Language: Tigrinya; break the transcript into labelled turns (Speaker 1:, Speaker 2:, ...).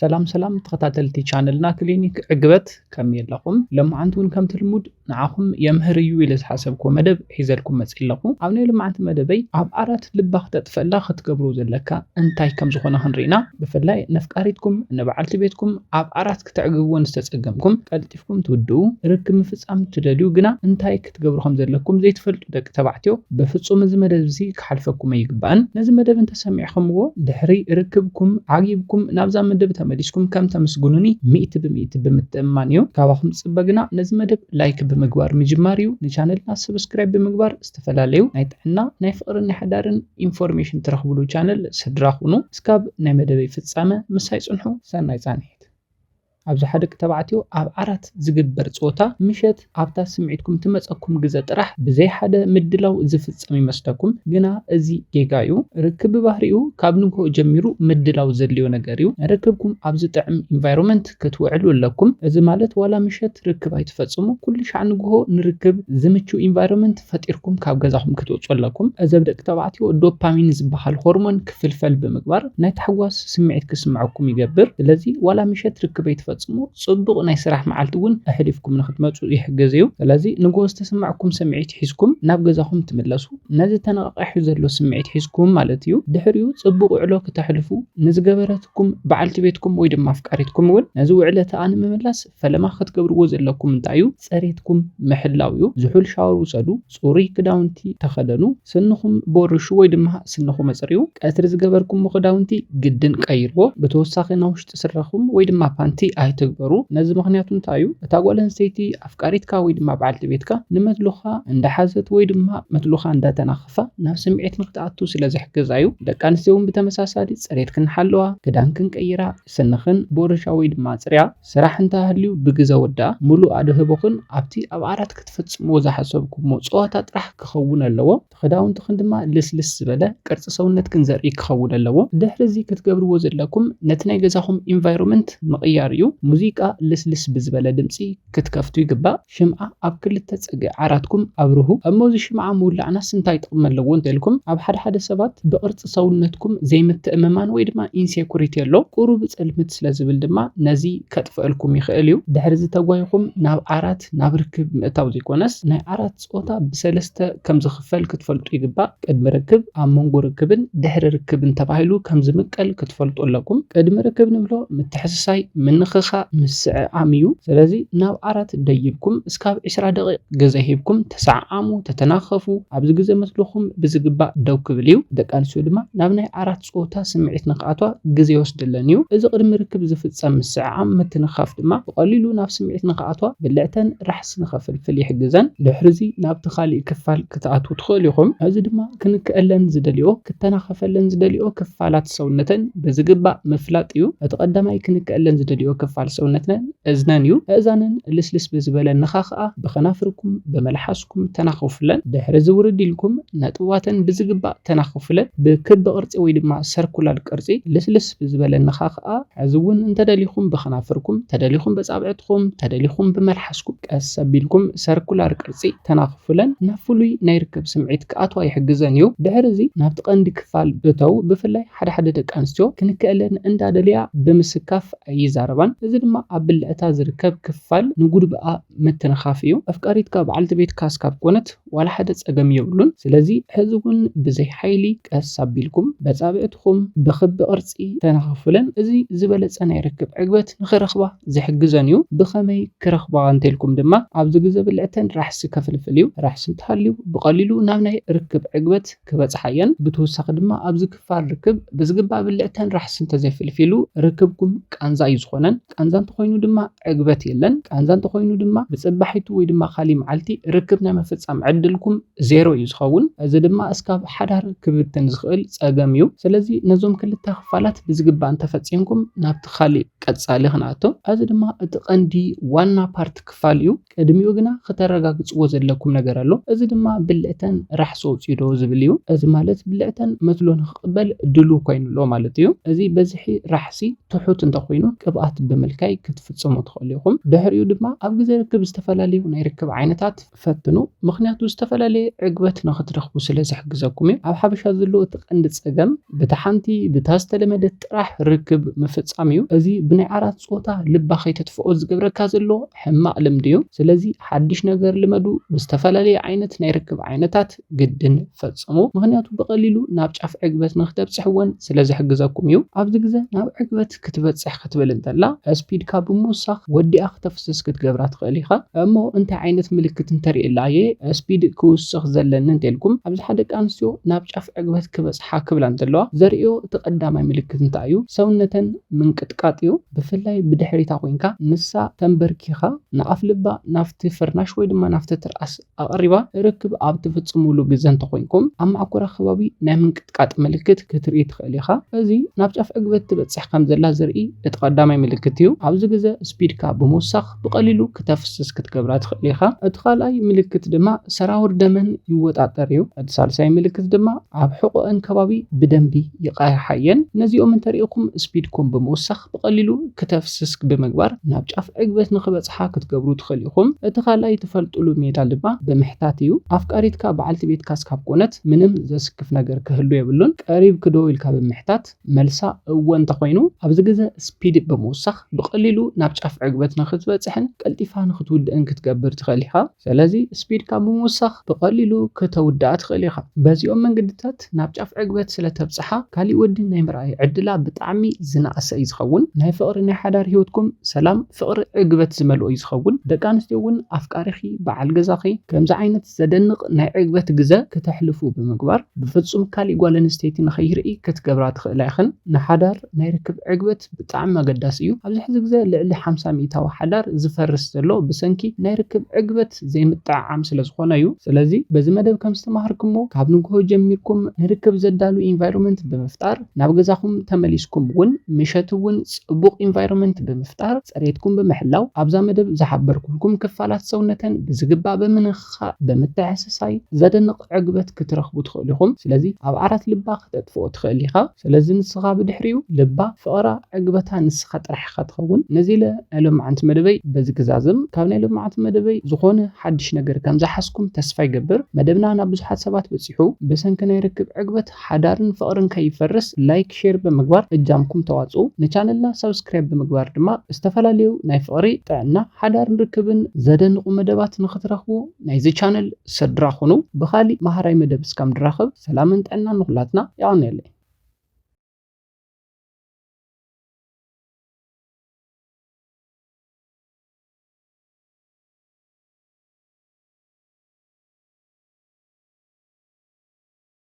Speaker 1: ሰላም ሰላም ተኸታተልቲ ቻነልና ክሊኒክ ዕግበት ከመይ ኣለኹም? ሎማዓንቲ እውን ከምቲ ልሙድ ንዓኹም የምህር እዩ ኢለ ዝሓሰብኩዎ መደብ ሒዘልኩም መፂ ኣለኹ። ኣብ ናይ ሎማዓንቲ መደበይ ኣብ ዓራት ልባ ክተጥፈላ ክትገብሮ ዘለካ እንታይ ከም ዝኾነ ክንሪኢና ብፍላይ ነፍቃሪትኩም ንበዓልቲ ቤትኩም ኣብ ዓራት ክተዕግብወን ዝተፀገምኩም ቀልጢፍኩም ትውድኡ ርክብ ምፍፃም ትደልዩ ግና እንታይ ክትገብሩ ከም ዘለኩም ዘይትፈልጡ ደቂ ተባዕትዮ በፍጹም እዚ መደብ እዚ ክሓልፈኩም ኣይግባእን ነዚ መደብ እንተ ሰሚዕክምዎ ድሕሪ ርክብኩም ዓጊብኩም ናብዛ መደብ ተመሊስኩም ከም ተምስጉኑኒ ሚእቲ ብሚእቲ ብምትእምማን እዩ ካባኩም ዝጽበ ግና ነዚ መደብ ላይክ ብምግባር ምጅማር እዩ ንቻነልና ሰብስክራይብ ብምግባር ዝተፈላለዩ ናይ ጥዕና ናይ ፍቅርን ናይ ሓዳርን ኢንፎርሜሽን ትረክብሉ ቻነል ስድራ ኩኑ እስካብ ናይ መደበይ ፍጻመ ምሳይ ጽንሑ ሰናይ ጻንሒት። ኣብዝሓ ደቂ ተባዕትዮ ኣብ ዓራት ዝግበር ጸወታ ምሸት ኣብታ ስምዒትኩም ትመጸኩም ግዘ ጥራሕ ብዘይ ሓደ ምድላው ዝፍጸም ይመስለኩም ግና እዚ ጌጋ እዩ ርክብ ብባህሪኡ ካብ ንግሆ ጀሚሩ ምድላው ዘድልዮ ነገር እዩ ርክብኩም ኣብ ዝጥዕም ኢንቫይሮመንት ክትውዕሉ ኣለኩም እዚ ማለት ዋላ ምሸት ርክብ ኣይትፈጽሙ ኩሉሻዕ ንግሆ ንርክብ ዝምቹ ኢንቫይሮመንት ፈጢርኩም ካብ ገዛኹም ክትወጹ ኣለኩም እዚ ኣብ ደቂ ተባዕትዮ ዶፓሚን ዝበሃል ሆርሞን ክፍልፈል ብምግባር ናይ ታሕጓስ ስምዒት ክስምዐኩም ይገብር። ስለዚ ዋላ ምሸት ርክብ ኣይትፈጽሙ፣ ጽቡቕ ናይ ስራሕ መዓልቲ እውን ኣሕሊፍኩም ንኽትመጹ ይሕግዝ እዩ። ስለዚ ንግሆ ዝተሰማዕኩም ስምዒት ሒዝኩም ናብ ገዛኹም ትምለሱ፣ ነዚ ተነቓቒሑ ዘሎ ስምዒት ሒዝኩም ማለት እዩ። ድሕሪኡ ጽቡቕ ውዕሎ ክተሕልፉ ንዝገበረትኩም በዓልቲ ቤትኩም ወይ ድማ ኣፍቃሪትኩም እውን ነዚ ውዕለታኣ ንምምላስ ፈለማ ክትገብርዎ ዘለኩም እንታይ እዩ? ጽሬትኩም ምሕላው እዩ። ዝሑል ሻወር ውሰዱ፣ ጽሩይ ክዳውንቲ ተኸደኑ፣ ስንኹም ቦርሹ ወይ ድማ ስንኹም ኣጽርዩ፣ ቀትሪ ዝገበርኩሞ ክዳውንቲ ግድን ቀይርዎ፣ ብተወሳኺ ናብ ውሽጢ ስረኹም ወይ ድማ ፓንቲ ኣይትግበሩ። ነዚ ምኽንያቱ እንታይ እዩ? እታ ጓል ኣንስተይቲ ኣፍቃሪትካ ወይ ድማ በዓልቲ ቤትካ ንመትሎኻ እንዳሓዘት ወይ ድማ መትሎኻ እንዳተናኸፋ ናብ ስምዒት ንክትኣቱ ስለ ዝሕግዛ እዩ። ደቂ ኣንስትዮ እውን ብተመሳሳሊ ጽሬት ክንሓልዋ ክዳን ክንቀይራ፣ ስንኽን ቦርሻ ወይ ድማ ኣጽርያ። ስራሕ እንተ ሃልዩ ብግዘ ወድኣ። ምሉእ ኣድህቦኽን ኣብቲ ኣብ ዓራት ክትፍጽምዎ ዝሓሰብኩሞ ጸወታ ጥራሕ ክኸውን ኣለዎ። እቲ ክዳውንትኽን ድማ ልስልስ ዝበለ፣ ቅርጺ ሰውነትክን ዘርኢ ክኸውን ኣለዎ። ድሕሪ'ዚ ክትገብርዎ ዘለኩም ነቲ ናይ ገዛኹም ኢንቫይሮመንት ምቕያር እዩ። ሙዚቃ ልስልስ ብዝበለ ድምጺ ክትከፍቱ ይግባእ። ሽምዓ ኣብ ክልተ ጸግዒ ዓራትኩም ኣብርሁ። እሞ እዚ ሽምዓ ምውላዕናስ እንታይ ጥቕሚ ኣለዎ እንተልኩም፣ ኣብ ሓደ ሓደ ሰባት ብቕርጺ ሰውነትኩም ዘይምትእምማን ወይ ድማ ኢንሴኩሪቲ ኣሎ። ቁሩብ ጽልምት ስለ ዝብል ድማ ነዚ ከጥፍኣልኩም ይኽእል እዩ። ድሕሪዚ ተጓይኹም ናብ ዓራት ናብ ርክብ ምእታው ዘይኮነስ ናይ ዓራት ጾታ ብሰለስተ ከም ዝኽፈል። ክፈል ክትፈልጡ ይግባእ። ቅድሚ ርክብ፣ ኣብ መንጎ ርክብን ድሕሪ ርክብን ተባሂሉ ከም ዝምቀል ክትፈልጡ ኣለኩም። ቅድሚ ርክብ ንብሎ ምትሕስሳይ፣ ምንኽኻእ፣ ምስዕዓም እዩ። ስለዚ ናብ ዓራት ደይብኩም እስካብ ዕስራ ደቒቕ ግዘ ሂብኩም ተሰዓዓሙ፣ ተተናኸፉ። ኣብዚ ግዘ ምስልኹም ብዝግባእ ደው ክብል እዩ። ደቂ ኣንስትዮ ድማ ናብ ናይ ዓራት። ጾታ ስምዒት ንኽኣትዋ ግዜ ይወስደለን እዩ። እዚ ቅድሚ ርክብ ዝፍጸም ምስዕዓም ምትንኻፍ ድማ ብቐሊሉ ናብ ስምዒት ንኽኣትዋ ብልዕተን ራሕሲ ንኸፍልፍል ይሕግዘን። ድሕሪዚ ናብቲ ካልእ ክፋል ክትኣትዉ ትኽእሉ ኢኹም፣ እዚ ድማ ክንክኣለን ዝደልይኦ ክተናኸፈለን ዝደልይኦ ክፋላት ሰውነተን ብዝግባእ ምፍላጥ እዩ። እቲ ቀዳማይ ክንክኣለን ዝደልይኦ ክፋል ሰውነትነን እዝነን እዩ። ኣእዛነን ልስልስ ብዝበለ ንኻኽኣ ብኸናፍርኩም፣ ብመልሓስኩም፣ ኢልኩም ተናኽፉለን። ድሕሪዚ ውርድ ኢልኩም ነጥብዋተን ብዝግባእ ተናኽፉለን። ብክቢ ቅርጺ ወይ ድማ ሰርኩላር ቅርጺ ልስልስ ብዝበለ ነኻኽኣ። ሕዚ እውን እንተደሊኹም ብከናፍርኩም፣ ተደሊኹም በጻብዕትኹም፣ ተደሊኹም ብመልሓስኩም ቀስ ኣቢልኩም ሰርኩላር ቅርጺ ተናኽፉለን። ናብ ፍሉይ ናይ ርክብ ስምዒት ክኣትዋ ይሕግዘን እዩ። ድሕሪዚ ናብቲ ቀንዲ ክፋል እተው። ብፍላይ ሓደ ሓደ ደቂ ኣንስትዮ ክንክኣለን እንዳደልያ ብምስካፍ ኣይዛረባን። እዚ ድማ ኣብ ብልዕታ ዝርከብ ክፋል ንጉድብኣ። ምትንኻፍ እዩ። ኣፍቃሪትካ በዓልቲ ቤትካ እስካብ ኮነት ዋላ ሓደ ፀገም የብሉን። ስለዚ ሕዚ እውን ብዘይ ሓይሊ ቀስ ኣቢልኩም በፃብዕትኹም ብኽቢ ቅርፂ ተናኸፉለን። እዚ ዝበለፀ ናይ ርክብ ዕግበት ንኽረኽባ ዝሕግዘን እዩ። ብኸመይ ክረኽባ እንተልኩም ድማ ኣብዚ ግዘ ብልዕተን ራሕሲ ከፍልፍል እዩ። ራሕሲ እንተሃልዩ ብቐሊሉ ናብ ናይ ርክብ ዕግበት ክበፅሓ እየን። ብተወሳኺ ድማ ኣብዚ ክፋል ርክብ ብዝግባእ ብልዕተን ራሕሲ እንተዘይፍልፊሉ ርክብኩም ቃንዛ እዩ ዝኾነን። ቃንዛ እንተኾይኑ ድማ ዕግበት የለን። ቃንዛ እንተኾይኑ ድማ ብጽባሒቱ ወይ ድማ ካሊእ መዓልቲ ርክብ ናይ ምፍጻም ዕድልኩም ዜሮ እዩ ዝኸውን። እዚ ድማ እስካብ ሓዳር ክብትን ዝኽእል ጸገም እዩ። ስለዚ ነዞም ክልተ ክፋላት ብዝግባእ እንተፈጺምኩም ናብቲ ካሊእ ቀጻሊ ክንኣቱ። እዚ ድማ እቲ ቀንዲ ዋና ፓርት ክፋል እዩ። ቅድሚኡ ግና ክተረጋግጽዎ ዘለኩም ነገር ኣሎ እዚ ድማ ብልዕተን ራሕሲ ኣውጽኡ ዶ ዝብል እዩ እዚ ማለት ብልዕተን መትሎ ንክቅበል ድሉው ኮይኑ ኣሎ ማለት እዩ እዚ በዝሒ ራሕሲ ትሑት እንተኮይኑ ቅብኣት ብምልካይ ክትፍጽሙ ትክእሉ ኢኩም ድሕሪኡ ድማ ኣብ ግዜ ርክብ ዝተፈላለዩ ናይ ርክብ ዓይነታት ፈትኑ ምክንያቱ ዝተፈላለየ ዕግበት ንክትረክቡ ስለ ዝሕግዘኩም እዩ ኣብ ሓበሻ ዘሎ እቲ ቀንዲ ጸገም ብታ ሓንቲ ብታ ዝተለመደት ጥራሕ ርክብ ምፍጻም እዩ እዚ ብናይ ዓራት ጾታ ልባ ከይተጥፍኦ ዝገብረካ ዘሎ ሕማቅ ልምዲ እዩ ስለዚ ሓድሽ ነገር ልመዱ ብዝተፈላለየ ዓይነት ናይ ርክብ ዓይነታት ግድን ፈጽሙ ምክንያቱ ብቀሊሉ ናብ ጫፍ ዕግበት ንክተብጽሕ ወን ስለ ዝሕግዘኩም እዩ ኣብዚ ግዘ ናብ ዕግበት ክትበጽሕ ክትብል እንተላ እስፒድካ ብምውሳክ ወዲኣ ክተፍስስ ክትገብራ ትክእል ኢካ እሞ እንታይ ዓይነት ምልክት እንተሪኤላ እየ እስፒድ ክውስክ ዘለኒ እንተልኩም ኣብዝሓ ደቂ ኣንስትዮ ናብ ጫፍ ዕግበት ክበጽሓ ክብላ እንተለዋ ዘርእዮ እቲ ቀዳማይ ምልክት እንታይ እዩ ሰውነተን ምንቅጥቃጥ እዩ ብፍላይ ብድሕሪታ ኮይንካ ንሳ ተምበርኪኻ ንኣፍልባ ናብቲ ፍርናሽ ወይ ድማ ናብቲ ትርኣስ ኣቕሪባ ርክብ ኣብ ትፍጽሙሉ ግዘ እንተኾይንኩም ኣብ ማዕኮራ ከባቢ ናይ ምንቅጥቃጥ ምልክት ክትርኢ ትኽእል ኢኻ። እዚ ናብ ጫፍ ዕግበት ትበጽሕ ከምዘላ ዘርኢ እቲ ቀዳማይ ምልክት እዩ። ኣብዚ ግዘ ስፒድካ ብምውሳኽ። ብቐሊሉ ክተፍስስ ክትገብራ ትኽእል ኢኻ። እቲ ካልኣይ ምልክት ድማ ሰራውር ደመን ይወጣጠር እዩ። እቲ ሳልሳይ ምልክት ድማ ኣብ ሕቖኤን ከባቢ ብደንቢ ይቓይሓ እየን። ነዚኦም እንተሪእኹም ስፒድኩም ብምውሳኽ ብቐሊሉ ክተፍስስ ብምግባር ናብ ጫፍ ዕግበት ንኽበጽሓ ክትገብሩ ትኽእሉ ኢኹም። እቲ ካልኣይ ትፈልጡሉ ሜላ ድማ ብምሕታት እዩ። ኣፍቃሪትካ በዓልቲ ቤትካ ስካብ ኮነት ምንም ዘስክፍ ነገር ክህሉ የብሉን። ቀሪብክዶ ኢልካ ብምሕታት። መልሳ እወ እንተኾይኑ፣ ኣብዚ ግዘ ስፒድ ብምውሳኽ ብቐሊሉ ናብ ጫፍ ዕግበት ንኽትበፅሕን ቀልጢፋ ንኽትውድእን ክትገብር ትኽእል ኢኻ። ሰለዚ ስፒድካ ብምውሳኽ ብቐሊሉ ክተውድኣ ትኽእል ኢኻ። በዚኦም መንገድታት ናብ ጫፍ ዕግበት ስለተብፅሓ ካሊእ ወዲ ናይ ምርኣይ ዕድላ ብጣዕሚ ዝነኣሰ እዩ ዝኸውን። ናይ ፍቕሪ ናይ ሓዳር ሂወትኩም ሰላም፣ ፍቕሪ፣ ዕግበት ዝመልኦ እዩ ዝኸውን። ደቂ ኣንስትዮ እውን ኣፍቃሪኺ፣ በዓል ገዛኺ፣ ከምዚ ዓይነት። ዘደንቕ ናይ ዕግበት ግዘ ክተሕልፉ ብምግባር ብፍፁም ካሊእ ጓል ኣንስተይቲ ንከይርኢ ክትገብራ ትኽእላ ኢኽን። ንሓዳር ናይ ርክብ ዕግበት ብጣዕሚ ኣገዳሲ እዩ። ኣብዚ ሕዚ ግዘ ልዕሊ ሓምሳ ሚኢታዊ ሓዳር ዝፈርስ ዘሎ ብሰንኪ ናይ ርክብ ዕግበት ዘይምጥዕዓም ስለዝኾነ እዩ። ስለዚ በዚ መደብ ከምዝተማሃርክሞ ካብ ንጉሆ ጀሚርኩም ንርክብ ዘዳሉ ኢንቫይሮመንት ብምፍጣር፣ ናብ ገዛኹም ተመሊስኩም እውን ምሸት እውን ፅቡቕ ኢንቫይሮመንት ብምፍጣር ፅሬትኩም ብምሕላው ኣብዛ መደብ ዝሓበርኩልኩም ክፋላት ሰውነተን ብዝግባእ ብምንኽኻእ ብምትሕስሳይ ዘደንቕ ዕግበት ክትረኽቡ ትኽእሉ ኢኹም ስለዚ ኣብ ዓራት ልባ ክተጥፍኦ ትኽእል ኢኻ ስለዚ ንስኻ ብድሕሪኡ ልባ ፍቕራ ዕግበታ ንስኻ ጥራሕ ኢኻ ትኸውን ነዚ ኢለ ናይ ሎምዓንቲ መደበይ በዚ ክዛዝም ካብ ናይ ሎምዓንቲ መደበይ ዝኾነ ሓድሽ ነገር ከምዝሓዝኩም ተስፋ ይገብር መደብና ናብ ብዙሓት ሰባት በፂሑ ብሰንኪ ናይ ርክብ ዕግበት ሓዳርን ፍቅርን ከይፈርስ ላይክ ሼር ብምግባር እጃምኩም ተዋጽኡ ንቻነልና ሳብስክራይብ ብምግባር ድማ ዝተፈላለዩ ናይ ፍቅሪ ጥዕና ሓዳርን ርክብን ዘደንቁ መደባት ንክትረክቡ ናይዚ ቻነል ስድራ ኩኑ ብካሊእ ማሃራይ መደብ እስካብ ንራከብ ሰላምን ጥዕናን ንኩላትና የቀንየለይ።